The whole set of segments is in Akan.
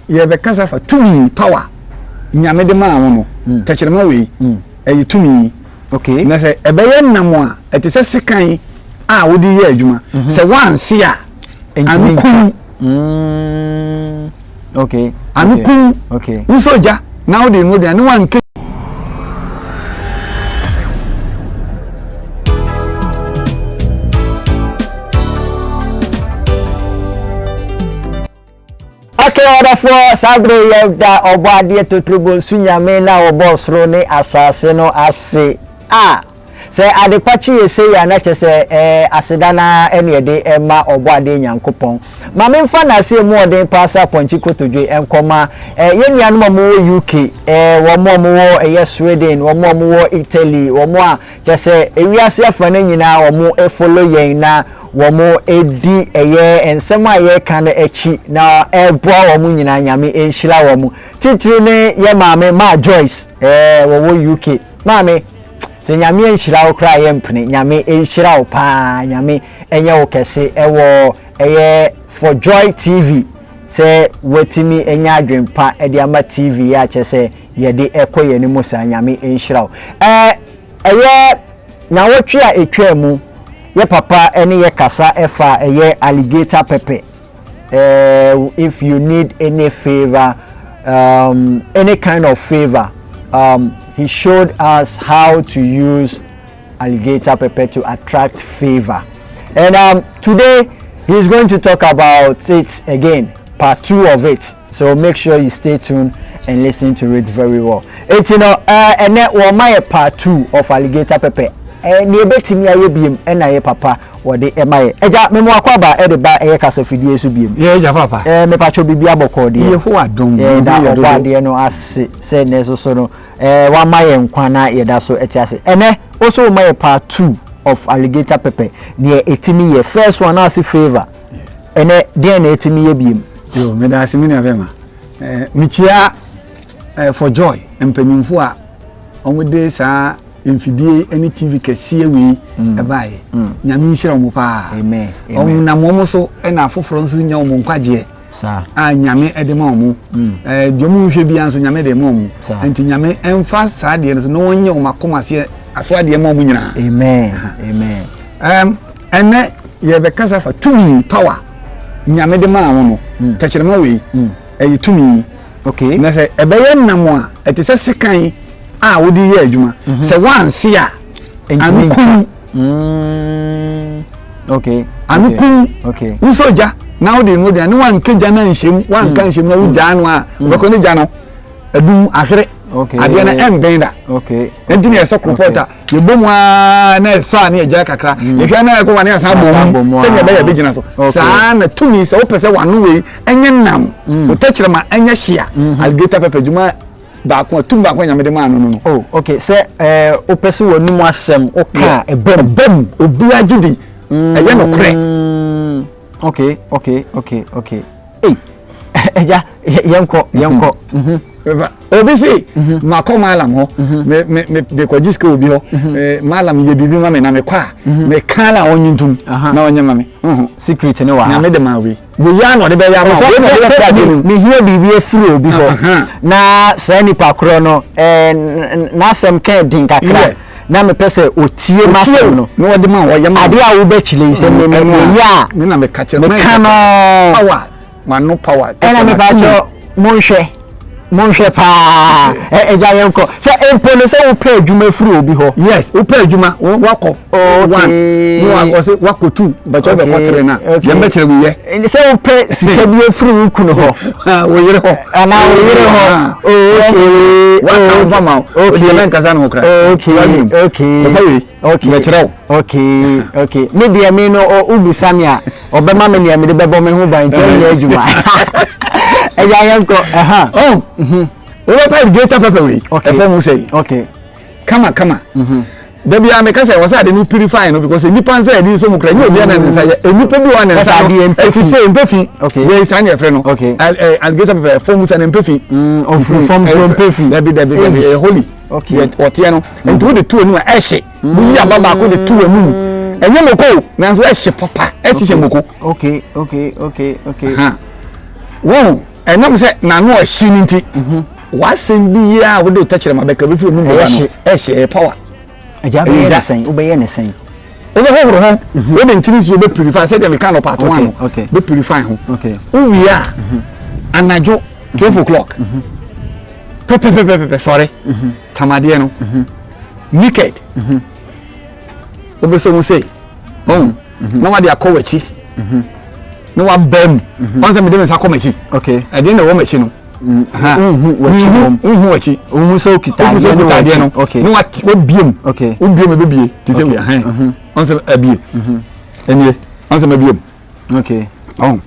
yɛbɛkasa fa tumi power nyame de maa wo no mm. tɛkyerɛma wei mm. ɛyɛ tumi okay. na sɛ ɛbɛyɛ nam a ɛte sɛ sekan a wode yɛ adwuma mhm. sɛ woanse a anokum mm. okay. anokum okay. wo sɛ ogya na wode no aduane woanka Okay ɔdɔfoɔ, saa berɛ yi yɛda ɔbɔadeɛ totorobonsu Nyame no a ɔbɔɔ soro ne asaase no ase. Ah! Sɛ adepa kye yɛ sei a na kyerɛ sɛ ɛɛ aseda no ara na yɛde rema ɔbɔadeɛ Nyankopɔn. Ma memfa nnaseɛ mu ɔden paa sɛ apɔnkye kotodwe nkɔma ɛɛ yɛn nuanom a wɔwɔ UK, ɛɛ wɔn a wɔwɔ ɛyɛ Sweden, wɔn a wɔwɔ Italy, wɔn a Kyɛ sɛ ewiase afa no nyinaa wɔfollow yɛn na wɔdi ɛyɛ nsɛm a yɛka no akyi na ɛboa wɔn nyinaa Nyame nhyira wɔn. Titiriw ne yɛ maame Maa Joyce ɛɛ wɔwɔ UK. Maame sɛ Nyame anhyira wo koraa yɛmpene. Nyame nhyira wo paa. Nyame ɛnyɛ wo kɛse ɛwɔ ɛyɛ For Joy TV sɛ watumi anya adwempa ɛde ama TV yɛ akyɛ sɛ yɛde ɛkɔ yɛn anim saa nyame nhyira wo ɛɛ ɛyɛ nyawɔtwe a ɛtwaa mu yɛ papa ɛne yɛ kasa ɛfa ɛyɛ alligator pepper ɛɛ if you need any favour um, any kind of favour um, he showed us how to use alligator pepper to attract favour and um, today he is going to talk about it again part two of it. So make sure you stay tuned and listen to it very well. Eti no, eh, ɛnɛ wɔma yɛ part two of alligator pepper. Eh, nea ebetumi ayɛ biem ɛna yɛ papa wɔde ɛma yɛ. Ɛgya memo akɔ aba ɛde ba ɛyɛ kasafidie so biem. Yɛ ɛgya papa. Eh, mepatwo bibi abɔkɔ deɛ. Yɛ ho adom. Eh, da ɔbɔ adeɛ no ase sɛ ɛnɛ so so no. Eh, wama yɛ nkwa na yɛda so ɛte ase. Ɛnɛ, also wɔma yɛ part two of alligator pepper. Nea etimi yɛ first one ase favor. Ɛnɛ deɛn na ɛtumi yɛ biom? Yo, meda ase me nua bɛma. Eh, mekyia eh, for joy mpanyimfo a wɔde saa mfidie ne tv kɛseɛ wei mm. ɛbaeɛ mm. nyame nhyira wɔn paa wɔn nam wɔn so na afoforɔ nso nya wɔn nkwagyeɛ a nyame de ma wɔn mm. eh, deɛ wɔn nhwɛ biara nso nyame de ma wɔn nti nyame mfa saa deɛ no so na wɔnyɛ wɔn akoma aseɛ aso adeɛ ma wɔn nyinaa amen amen Ɛnnɛ yɛrebɛkasa afa tumi, power, Nyame de maa wo no. Tɛkyerɛma wei, ɛyɛ tumi. Okay. Na sɛ ɛbɛyɛ nnam a, ɛte sɛ sekan a wode yɛ adwuma. Mhm. Sɛ woanse a, ano kum. Mm. Okay. Ano kum. Okay. Wosɔ gya na wode no aduane, woanka gya no anhyɛm, woanka mm. nhyɛm na wogyaa no a, mm. wobɛkɔ ne gya no adum ahwere. Okay. Adeɛ no ɛmben da. Okay. Ɛnti na ɛsɛ koropɔta. Okay. yɛbɔ mu aa na ɛsɔ a ne yɛgyae kakra mm. yɛhwɛ a na ɛkɔ wa ne yɛsan bɔ mu sɛdeɛ ɛbɛyɛ bɛgyina so saa na tumi sɛ wopɛ sɛ wano wei ɛnyɛ nam mm. wotɛkyerɛma ɛnyɛ hyea mm-hmm. alligator pɛpɛ dwuma baako a tum baako nyame de maa no no no. oh okay sɛ ɛɛ wopɛ sɛ wɔn mu asɛm woka ɛbɛm ɛbɛm obi agye di ɛyɛ nokorɛ. okay okay okay okay. ei ɛgya yɛnkɔ yɛnkɔ obi se makɔ malam hɔ mekɔgye sika obi hɔ malam yɛ biribi ma me na mekɔ a meka la ɔnye ntom na ɔnyɛ ma me secret ne wɔ ha nyame de ma wei wei a na ɔde bɛyɛ ama mehia biribi afiri obi hɔ na saa nipa korɔ no n'asɛm ka din kakra na mepɛ sɛ ɔtie m'asɛm no, adeɛ a wobɛkyerɛ yi sɛ meyɛ a meka no ɛna mepakyɛ monhwɛ monhwɛ paa agya yɛn kɔ sɛ mpo no sɛ wopɛ adwuma firi obi hɔ yes wopɛ adwuma wakɔ one na wakɔ sɛ wakɔ two bɛtɔ bɛkɔ tere na yɛn bɛkyerɛ wiyɛ sɛ wopɛ sika bi firi wo kunu hɔ wo yere hɔ Ana wo yere hɔ waka wo ho ama wo ɔdeɛ na nkasa ne ho kra yɛfa wei mɛkyerɛ wo me deɛ me no wobusa me a ɔbɛma me neɛ mede bɛbɔ me ho ban nti ɛnyɛ adwuma ɛgya yɛnkɔ ɛha wobɛpa greater pɛpɛ wei ɛfɔ mu sɛ kama kama da biara meka sɛ wɔsɛ ade no purify no because nnipa nsa yɛde nsɔ mu kora nyɛ obiara na ne nsa yɛ nnipa bi wɔ ne nsa no ɛte sɛ mpefi wei saa ne ɛfrɛ no alligator pepɛ fam sɛ ne mpefi ɔfiri fam so mpefi dabi dabi dabi ɛyɛ holy ɔteɛ no nti wode to anim a ɛhye woyi aba baako de to anum ɛnyɛ moko nanso ɛhye papa ɛhyehyɛ moko okay okay okay okay wɔn Ɛnam sɛ n'ano ahye no nti, w'asɛm bi yi a wode tɛkyerɛma bɛka bɛfiri ɔno mmɔba no ɛhyɛ ɛyɛ power. Agya bɛyɛ ne sɛn? Wobɛyɛ ne sɛn? Wobɛhohoro ho, mhm. wode nkyene nsuo bɛ purify sɛdeɛ meka no part one no bɛ purify ho. Wowie a, mhm. anadwo twelve o'clock mhm. pɛpɛpɛpɛpɛ sɔre tamadeɛ no naked wobɛsɛ mu sei na wade akɔ w'akyi na wabaa mu ɔn sɛ mede me nsa kɔ m'akyi ɛdeɛ na ɛwɔ m'akyi no wohu wakyi wohu sɛ okita adeɛ no adeɛ no na wabiem wobiem ɛbɛbie te sɛ ɔn sɛ abie ɛnie ɔn sɛ mabiem ɔn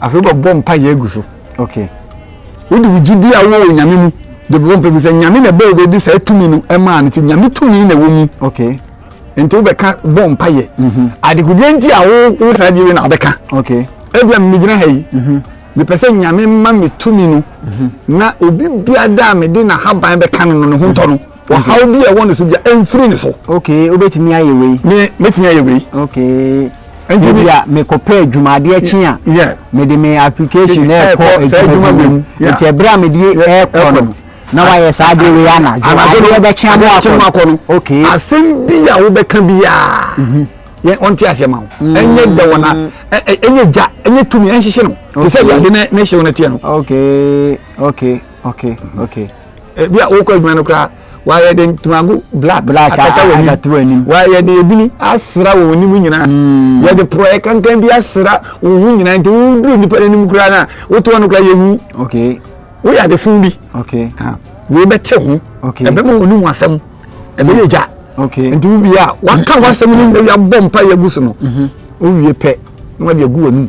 Afei bɛbɔ mpaeɛ agu so. Okay. Wode wo gyidie a wowɔ wɔ Nyame mu de bɛbɔ mpaeɛ gu sɛ Nyame na ɛbɛɛ wobɛde saa tumi no ɛmaa no nti Nyame tumi na ɛwɔ mu. Okay. Nti wobɛka bɔ mpaeɛ. Mhm. Adekodeɛ nti a wo wo saa deɛ wei na wobɛka. Okay. Ebia megyina ha yi. Mhm. Mepɛ sɛ Nyame ma me tumi no mhm. na obi biada a mede n'ahaban bɛka no no ne ho ntɔ no. Ɔhaw bi a ɛwɔ ne so bia ɛmfiri ne so. Okay, wobɛtumi ayɛ wei. Me mɛtumi ayɛ wei. Okay. Nti bi a mekɔpɛ adwumadeɛ kye a mede me application na ɛkɔ adwuma bi mu. Nti ɛberɛ a mede ɛkɔ no na wayɛ saa adeɛ wei anadwo. Anadwo yɛbɛkye ama akɔ no. Okay. Asɛm bi a wobɛka biara mhm. yɛ ɔnte aseɛ ma wo mm. ɛnyɛ dɛ wɔ na ɛnyɛ gya ɛnyɛ tumi ɛnhyehye no te sɛ deɛ ade na ɛhyɛ wo no teɛ no okay okay okay okay ebi a wokɔ adwuma no koraa wɔayɛ de ntomago black black akata wɔn anim wɔayɛ de ebini asra wɔn anim nyinaa hmm. yɛde porɔɛ kankan bi asra wɔn ho nyinaa nti woduru nipa n'anim koraa na woto wɔn koraa yɛhu woyɛ ade fun bi wei bɛte ho ɛbɛma wɔn anim asɛm ɛbɛyɛ gya nti wowie a waka w'asɛm no mmɛwi abɔ mpa yɛ gu so no mhm. wowie pɛ na wɔde agu wɔn anim.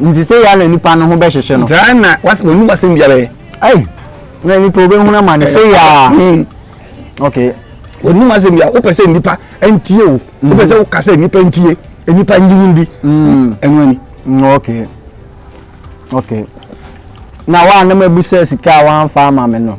Nti sɛ yɛ na nipa no ho bɛ hyehyɛ no. Saa na wasi wɔn nipa sɛm biara yɛ. Ayi na nipa obe hun ama ne sɛ yaa. Hmm. Ok. Wɔn nipa sɛm biara wopɛ sɛ nipa ntie o. Hmm. Wopɛ sɛ woka sɛ nipa ntie nipa nyinim bi. Hmm. Ɛnu ani. Ok. Ok. Na wa anam ebu sɛ sika a wa nfa ama mi no.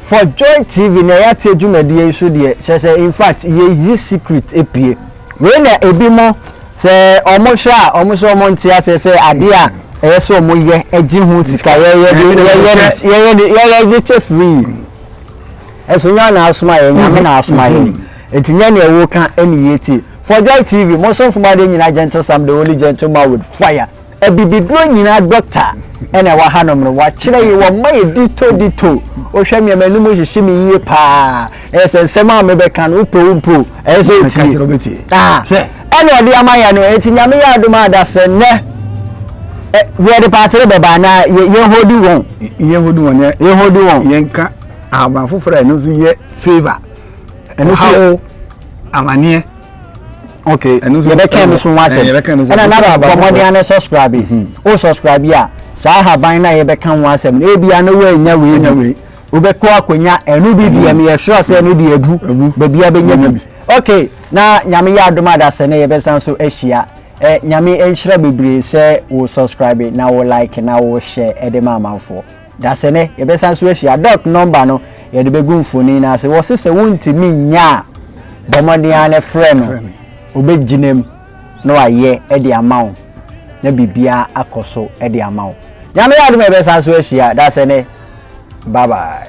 For joy TV na yɛateɛ dwumadie yi so deɛ kyerɛ sɛ infact yɛyi secret pue wei na ebi mo sɛ ɔmo hwɛ a ɔmo sɛ ɔmo nte aseɛ sɛ adeɛ a ɛyɛ sɛ ɔmo yɛ ɛgye ho sika yɛyɛ de yɛyɛ de yɛyɛ de yɛyɛ de kyɛ free ɛso nyɛ na asoma yɛ nyame na asoma yɛ eti nyɛ na ɛwɔ ka ɛne yie tie For joy TV mo so nfoma de nyina gentle sam the holy gentle man with fire. Abibiduro nyinaa dɔkta na ɛwɔ hanom no, wɔakyerɛ yɛn, wɔma yɛn dito dito. Wohwɛ me a m'anom hyehye me yie paa. Ɛyɛ sɛ nsɛm a mebɛka no, wopɛ wo mpo, ɛyɛ sɛ wotie. Ɛna ɔde ama yɛn no, enti Nyame yɛ adom a da sɛ nnɛ yɛde paatere bɛba anaa yɛhodi wɔn. Yɛhodi wɔn. Yɛhodi wɔn. Yɛnka ahaban foforɔ a ɛno nso yɛ favour. Ɛno nso yɛ amaneɛ. okay yɛbɛka no so ho asɛm ɛna naba bɔmmɔden ano subscribe mhm. o subscribe a saa haban no a yɛbɛka ho asɛm no ebia no woanya wei nya wei wobɛkɔ akɔnya ɛno bi deɛ meyɛ sure sɛ ɛno deɛ adu baabi a bɛnya bi okay na nyame yɛ adom adasɛ ne yɛbɛsan so ahyia eh, nyame nhyira bebree sɛ wo subscribe na wo like na wo hyɛ de ma amanfoɔ Dasene, yɛbɛsan nso ahyia. Doc number no yɛde bɛgu mfoni no ase. Wɔse sɛ wontumi nya a, bɔ mmɔden ara ne frɛ no. Obɛgyinam na wayɛ de ama wo na biribiara akɔ so de ama wo. Nyame yɛ adom a yɛbɛsan nso ahyia. Dasene, bye bye.